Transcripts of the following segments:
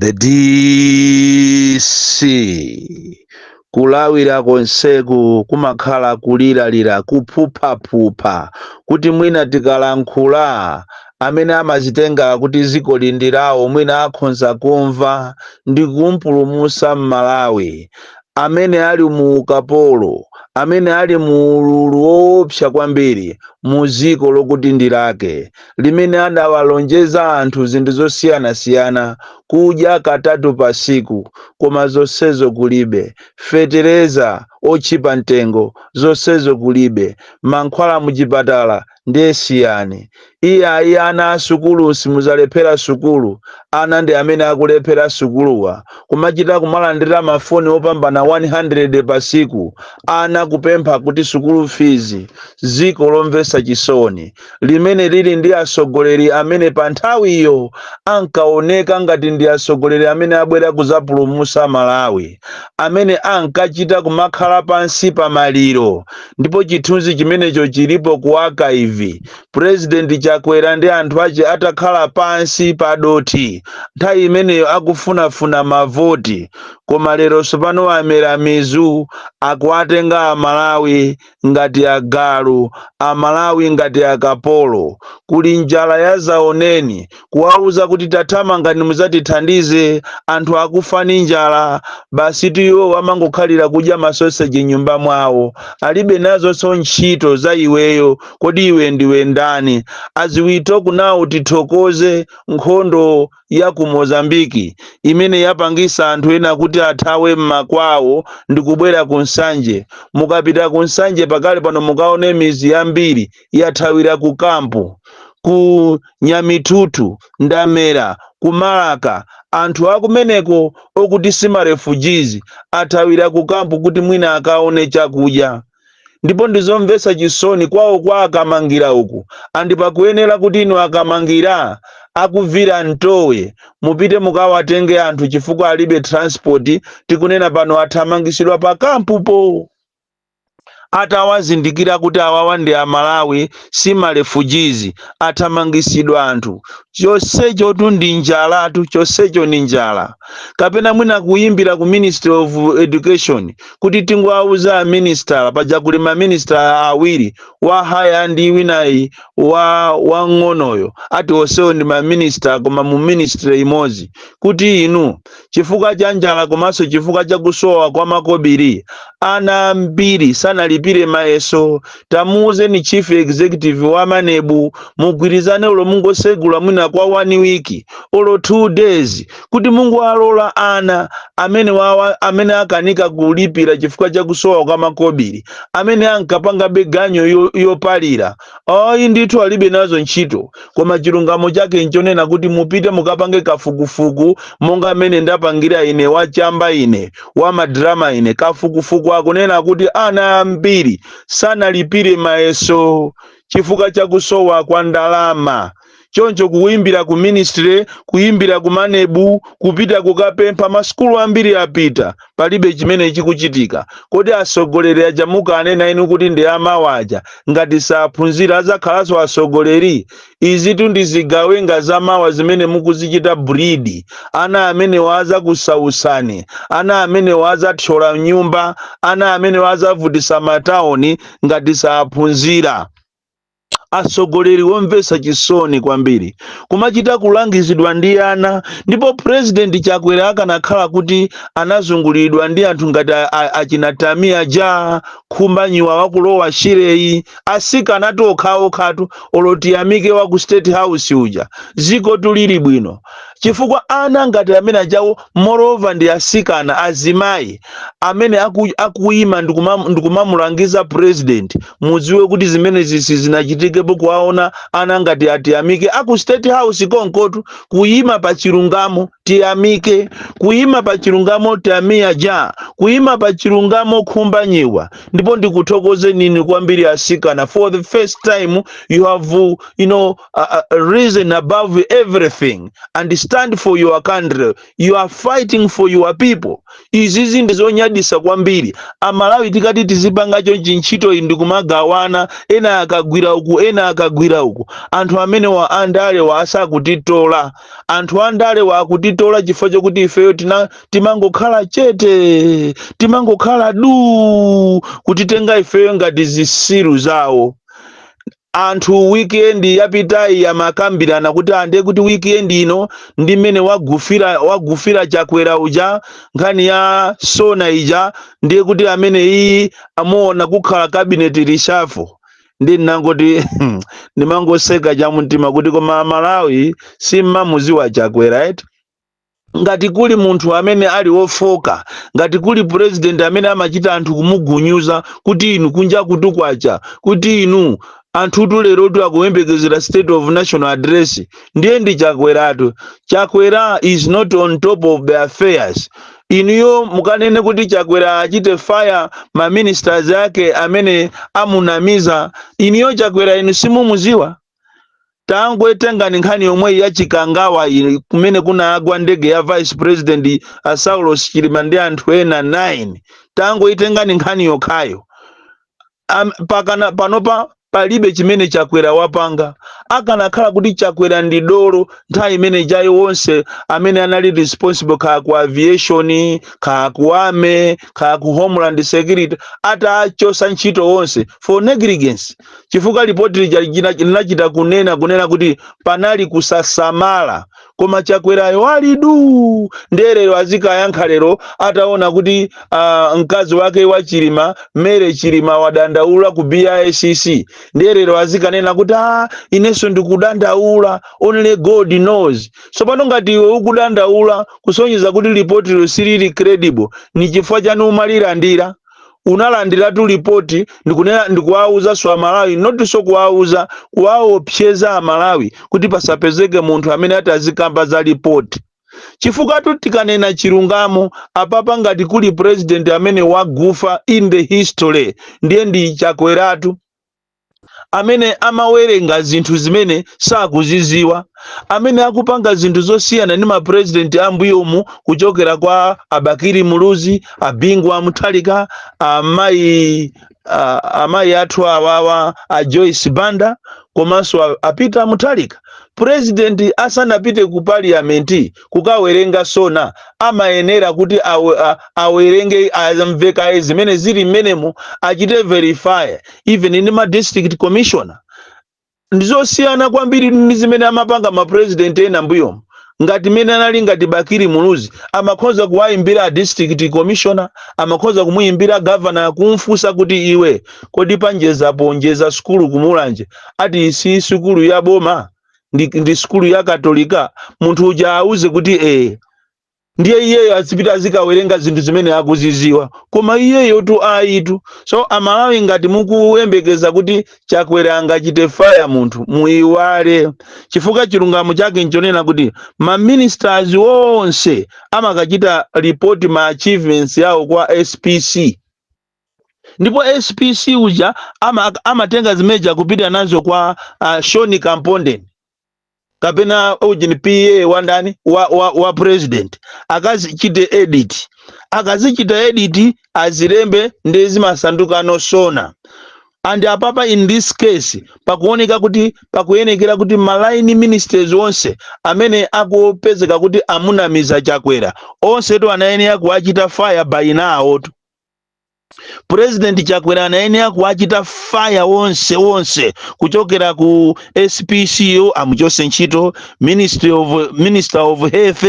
the dc kulawira konseku kumakhala kuliralira kuphuphaphupha kuti mwina tikalankhula amene amazitenga kuti ziko lindirawo mwina akhonza kumva ndi kumpulumusa m'Malawi amene ali mu ukapolo amene ali mu ululu woopsa kwambiri mu ziko lokuti ndi lake limene adawalonjeza anthu zinthu zosiyanasiyana, kudya katatu pa tsiku, koma zonsezo kulibe, fetereza otchipa mtengo, zonsezo kulibe, mankhwala muchipatala ndiye siyani. Iyayi iye ana a sukulu simudzalephera sukulu, ana ndi amene akulephera sukuluwa, kumachita kumalandira mafoni opambana 100 pa tsiku, ana kupempha kuti sukulu fizi, ziko lomvesa chisoni. limene lili ndi atsogoleri amene pa nthawiyo ankaoneka ngati ndi atsogoleri amene abwera kudzapulumutsa Malawi, amene ankachita kumakhala pansi pa maliro, ndipo chithunzi chimenecho chilipo ku archive, President Chakwera ndi anthu ache atakhala pansi pa dothi nthawi imeneyo akufunafuna mavoti, koma lero tsopano amera mizu akuwatenga Amalawi ngati agalu, amalawi ngati akapolo, kuli njala yazaoneni, kuwauza kuti tathamangani muzatithandize anthu akufa ndi njala, basitu iwo amangokhalira kudya ma sausage m'nyumba mwawo, alibe nazonso ntchito za iweyo, kodi iwe ndiwe ndani? As we talk now tithokoze nkhondo. ya ku Mozambique imene yapangisa anthu ena kuti athawe m'makwawo ndikubwera ku Nsanje. Mukapita ku Nsanje pakali pano mukaone mizi yambiri yathawira ku camp. Ku Nyamithuthu, Ndamera, ku Malaka anthu akumeneko okuti si ma refugees athawira ku camp kuti mwina akaone chakudya. ndipo ndizomvetsa chisoni kwawo kwa a Kamangira uku and pakuyenera kuti inu a Kamangira aku Vilantowe mupite mukawatenge anthu chifukwa alibe transport tikunena pano athamangisidwa pa kampupo atawazindikira kuti awawa ndi amalawi si ma refugees athamangisidwa anthu chonsechotu ndi njalatu chonsecho ni njala kapena mwina kuyimbira ku ministry of education kuti tingowauza a minister paja kuli ma minister awiri wa higher ndi winayi wamng'onoyo ati onsewo ndi ma minister koma mu ministry imodzi kuti inu chifukwa cha njala komanso chifukwa cha kusowa kwa makobiri ana ambiri sanalipire mayeso tamuuzeni chief executive wa manebu mugwirizane ulo mungosegula mwina kwa one week olo two days kuti mungowalola ana amenewawa amene akanika kulipira chifukwa cha kusowa kwa makobiri amene ankapanga maganyu yo- yopalira ayi ndithu alibe nazo ntchito koma chilungamo chake nchonena kuti mupite mukapange kafukufuku monga amene ndapangira ine wachamba ine wamadrama ine kafukufuku akunena kuti ana ambiri sanalipire mayeso chifukwa cha kusowa kwa ndalama choncho kuyimbira ku ministry kuyimbira ku manebu kupita kukapempha masukulu ambiri apita palibe chimene chikuchitika kodi atsogoleri aja mukanena inu kuti ndi amawa aja ngati saphunzira adzakhalanso atsogoleri Izitu ndi zigawenga za mawa zimene mukuzichita breed. Ana amenewa azakusautsani. Ana amenewa azathyola nyumba. Ana amenewa azavutisa ma town ngati saphunzira. Atsogoleri omvetsa chisoni kwambiri. Kumachita kulangizidwa ndi ana. Ndipo President Chakwera akanakhala kuti anazunguliridwa ndi anthu ngati achina Tamiya ja, Khumbanyiwa wakulowa Shire yi, asikanatu okhaokhatu olo tiyamike wa ku state house uja zikotu lili bwino chifukwa ana ngati amene ajawo moreover ndi asikana azimayi amene aku, akuyima ndikumam- ndikumamulangiza president mudziwe kuti zimene zisi zinachitikepo kuwaona ana ngati atiyamike aku state house konkotu kuyima pa chilungamo tiyamike kuyima pa chilungamo Tamiya ja kuyima pa chilungamo khumbanyiwa ndipo ndikuthokozeni ini kwambiri asikana for the first time you have uh, you know uh, uh, risen above everything and stand for your country you are fighting for your people izizi ndi zonyadisa kwambiri amalawi tikati tizipanga chonchi ntchito iyi ndikumagawana ena akagwira uku ena akagwira uku anthu amenewa andalewa asa akutitola Anthu andalewa akutitola chifukwa chokuti ifeyo tina timangokhala chete, timangokhala duu, kutitenga ifeyo ngati zisiru zawo. Anthu weekend yapitayi amakambirana kuti ande kuti weekend ino ndi mmene wagufira wagufira Chakwera uja nkhani ya Sona ija ndiye kuti amene iyi amuona kukhala cabinet reshuffle. nde ndinangoti ndimangoseka chamumtima kuti koma amalawi simmamuziwa chakwera eti ngati kuli munthu amene ali wofoka ngati kuli purezidenti amene amachita anthu kumugunyuza kuti inu kunja kutu kwacha kuti inu anthutu lerotu akuyembekezera state of national address ndiye ndi chakweratu chakwera is not on top of the affairs Inuyo mukanene kuti Chakwera achite fire ma ministers ake amene amunamiza. Inuyo Chakwera inu simumuziwa? Tangoitengani nkhani yomweyi ya Chikangawa iyi kumene kunagwa ndege ya Vice President a Saulos Chilima ndi anthu ena 9. Tangoitengani nkhani yokhayo. Am, pakana panopa palibe chimene chakwera wapanga akanakhala kuti chakwera ndi dolo nthawi imene ijayi wonse amene anali responsible kaya ku aviation kaya ku army kaya ku homeland security atachosa ntchito wonse for negligence chifukwa lipoti lija lina- linachita kunena kunena kuti panali kusasamala koma chakwerayo ali duu ndiye lero azikayankha lero ataona kuti uh, mkazi wake wa chilima Mary chilima wadandaula ku bicc ndiye lero azikanena kuti ah, inenso ndikudandaula only god knows tsopano ngati iwe ukudandaula kusonyeza kuti lipotilo silili credible ni chifukwa chani umalilandira unalandiratu lipoti ndikunena ndikuwauzanso amalawi not so kuwauza kuwaopseza amalawi kuti pasapezeke munthu amene ati azikamba za lipoti chifukwa tu tikanena chilungamo apapa ngati kuli president amene wagufa in the history ndiye ndi chakweratu amene amawerenga zinthu zimene sakuziziwa amene akupanga zinthu zosiyana ndi mapurezidenti ambuyomu kuchokera kwa abakiri muluzi abingu wa muthalika amayi a- amayi athu awawa a joyce banda komanso a- a peter muthalika purezidenti asanapite ku parliament kukawerenga sona amayenera kuti awe, a, awerenge amve kaye zimene zili mmenemo achite verify even ndi ma district commissioner ndizosiyana kwambiri ndi zimene amapanga ma president ena mbuyomo ngati mmene anali ngati bakiri muluzi amakhoza kuwayimbira a district commissioner amakhoza kumuyimbira governor kumfunsa kuti iwe kodi panjeza po njeza sukulu kumulanje ati si sukulu ya boma ndi, ndi sukulu ya katolika munthu uja auze kuti ee ndiye iyeyo azipita azikawerenga zinthu zimene akuziziwa koma iyeyo tu ayitu so amalawi ngati mukuyembekeza kuti chakwera angachite faya munthu muiwale chifukwa chilungamo chake nchonena kuti maministers onse amakachita report ma achievements yawo kwa spc ndipo SPC uja ama, amatenga zimezija kupita nazo kwa uh, Sean Kampondeni kapena ujeni PA wa ndani wa, wa, wa president akazichite edit akazichita edit azilembe nde zimasanduka no SONA and apapa in this case pakuoneka kuti pakuyenekera kuti ma line ministers onse amene akupezeka kuti amunamiza chakwera onsetu anayenera kuwachita fire by now tu purezidenti chakwera anayenera kuwachita fire onse onse kuchokera ku SPC-yo amuchose ntchito ministry of, minister of health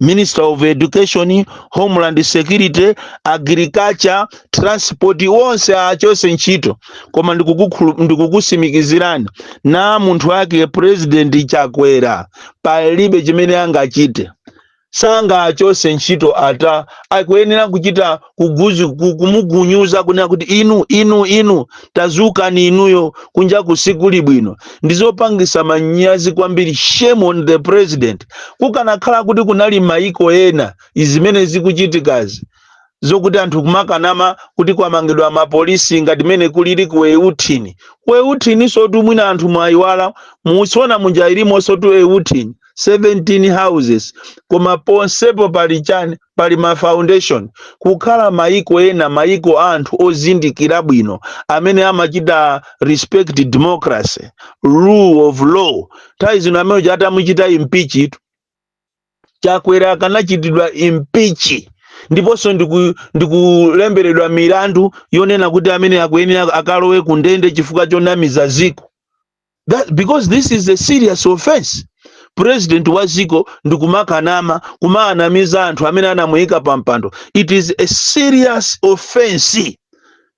minister of education homeland security agriculture transport onse achose ntchito koma ndikukukhulu- ndikukusimikizirani na munthu wake purezidenti chakwera palibe chimene angachite sangaachose ntchito ata, akuyenera kuchita kuguzu ku- kumugunyuza kunena kuti inu inu inu tazukani inuyo kunja kuno sikuli bwino ndizopangisa manyazi kwambiri shame on the president kukanakhala kuti kunali maiko ena zimene zikuchitikazi zokuti anthu kumakanama kuti kwamangidwa mapolisi ngati mene kulili ku euthini ku euthininsotu mwina anthu mwayiwala mu SONA muja ilimonsotu euthini 17 houses koma ponsepo pali chani pali ma foundation kukhala maiko ena maiko a anthu ozindikira bwino amene amachita respect democracy rule of law nthawi zino amene uja atamuchita impeachitu chakwera akanachitidwa impeach ndiponso ndiku- ndikulemberedwa milandu yonena kuti amene akuyenera akalowe ku ndende chifukwa chonamiza ziko That, because this is a serious offense president wa ziko ndikumakanama kumaanamiza anthu amene anamuyika pa mpando it is a serious offense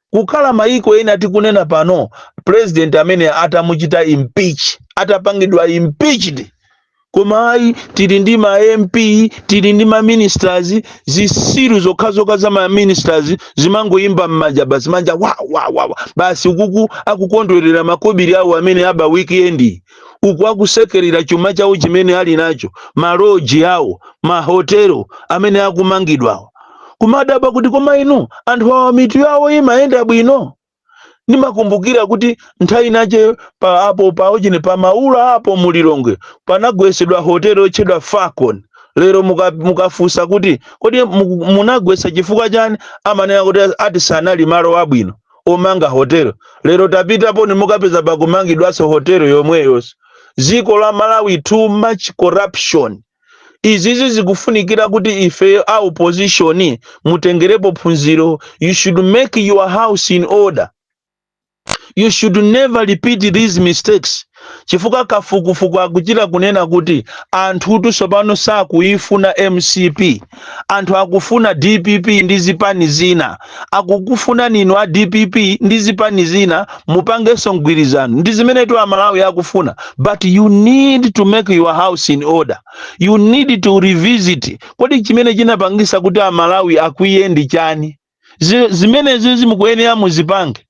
Kukhala mayiko ena tikunena pano president ameneyu atamuchita impeach, atapangidwa impeached, koma ayi tili ndi ma MP, tili ndi ma ministers, zisiru zokhazokha za ma ministers zimangoimba mmanja basi, manja wa wa wa wa basi ukuku akukondwerera makobiri awo amene aba weekend yi. uku akusekerera chuma chawo chimene ali nacho maloji awo mahotelo amene akumangidwawo kumadabwa kuti koma inu anthu awa mitu yawo imayenda bwino ndimakumbukira kuti nthawi inayake pa apo paujeni pa maula apo mulilongwe panagwesedwa hotelo yotchedwa falcon lero muka- mukafunsa kuti kodi muku- munagwesa chifukwa chani amanena kuti ati sanali malo abwino omanga hotel lero tapitaponi mukapeza pakumangidwanso hotel yomweyo dziko la malawi too much corruption izizi zikufunikira kuti ife a opposition mutengerepo phunziro you should make your house in order you should never repeat these mistakes chifukwa kafukufuku akuchita kunena kuti anthutu tsopano sakuifuna mcp anthu akufuna dpp ndi zipani zina akukufunani inu a dpp ndi zipani zina mupangenso mgwirizano ndi zimenetu amalawi akufuna but you need to make your house in order you need to revisit kodi chimene chinapangisa kuti amalawi akwiye ndi chani Zimenezizi mukuyenera muzipange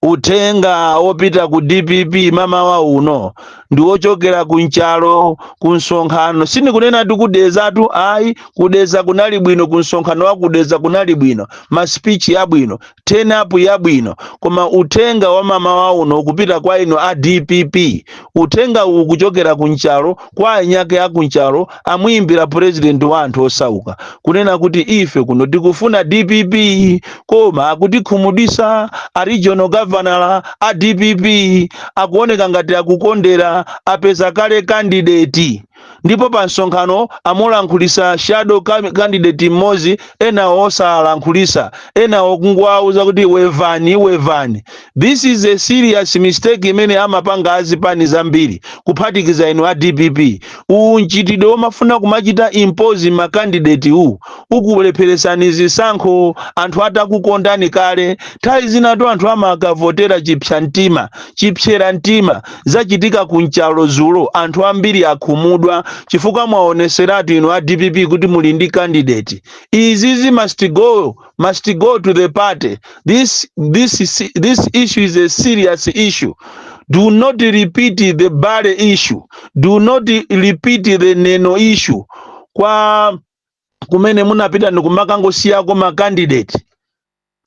uthenga wopita ku dpp mamawa uno ndi wochokera ku nchalo ku msonkhano sindikunena ti ku Dedzatu ayi ku Dedza kunali bwino ku msonkhano wa ku Dedza kunali bwino masipichi yabwino turn up yabwino koma uthenga wa mamawa uno ukupita kwa inu a dpp uthengawu ukuchokera ku nchalo kwa anyake ya ku nchalo amuyimbira president wa anthu osauka kunena kuti ife kuno tikufuna dpp koma akutikhumudwisa a regional governor a dpp akuoneka ngati akukondera apeza kale kandideti ndipo pa msonkhano amulankhulisa shadow candidate mmodzi enawo osalankhulisa enawo kungowauza kuti wevani wevani This is a serious mistake imene amapanga azipani zambiri kuphatikiza inu a dpp. Uwu mchitidwe womafuna kumachita impose ma candidate wu ukulepheretsani zisankho anthu atakukondani kale. Nthawi zinatu anthu amakavotera chipsa mtima, chipsera mtima. Zachitika ku Nchalo zulo anthu ambiri akhumudwa chifukwa mwaoneseratu inu a dpp kuti muli ndi candidate. Izizi must go must go to the party. This issue is a serious issue. Do not repeat the Bale issue. Do not repeat the Neno issue. Kwa kumene munapita ndikumakangosiyako ma candidate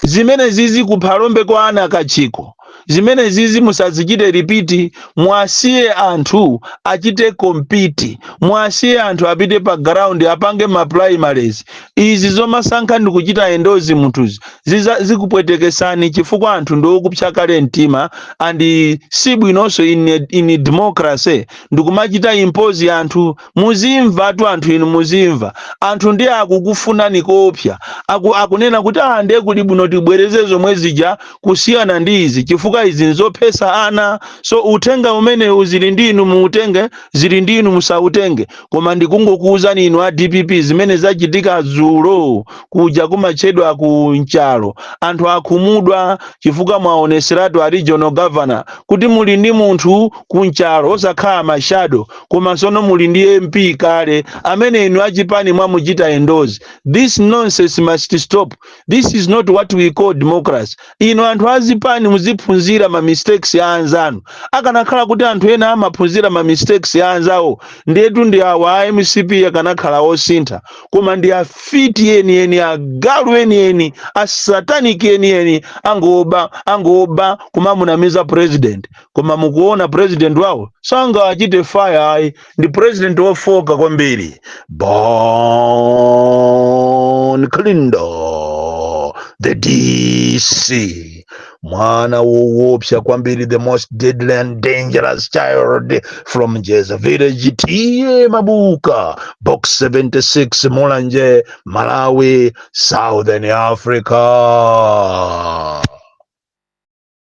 zimenezizi ku Phalombe kwa Anna Kachikho zimenezizi musazichite repeat muwasiye anthu achite compete muwasiye anthu apite pa ground apange ma primaries izi zomasankha ndi kuchita endorse munthuzi ziza- zikupwetekesani chifukwa anthu ndi okupsa kale mtima and si bwinonso in, a- in a democracy ndikumachita impose anthu muzimvatu anthu inu muzimva anthu ndiye akukufunani koopsa aku, akunena kuti ah ndiye kuli bwino tibwereze zomwe zija kusiyana ndi izi chifukwa izi nzophesa ana so uthenga umenewu zili ndi inu muutenge zili ndi inu musautenge koma ndikungokuwuzani inu a dpp zimene zachitika dzulo kuja kumatchedwa ku nchalo anthu akhumudwa chifukwa mwaoneseratu a regional governor kuti muli ndi munthu ku nchalo osakhala mashadow koma sono muli ndi mp kale amene inu achipani mwamuchita endorse this nonsense must stop this is not what we call democracy inu anthu azipani muziphunzira ma mistakes ya anzanu akanakhala kuti anthu ena amaphunzira ma mistakes ya anzawo ndiyetu ndi awa a mcp akanakhala osintha koma ndi afiti enieni agalu enieni asataniki enieni angoba angoba kumamunamiza president koma mukuona president wawo sangachite fire ayi ndi president wofoka kwambiri bon kalindo the dc mwana wowopsa kwambiri the most deadly and dangerous child from jeza village ta mabuka box 76 mulanje malawi southern africa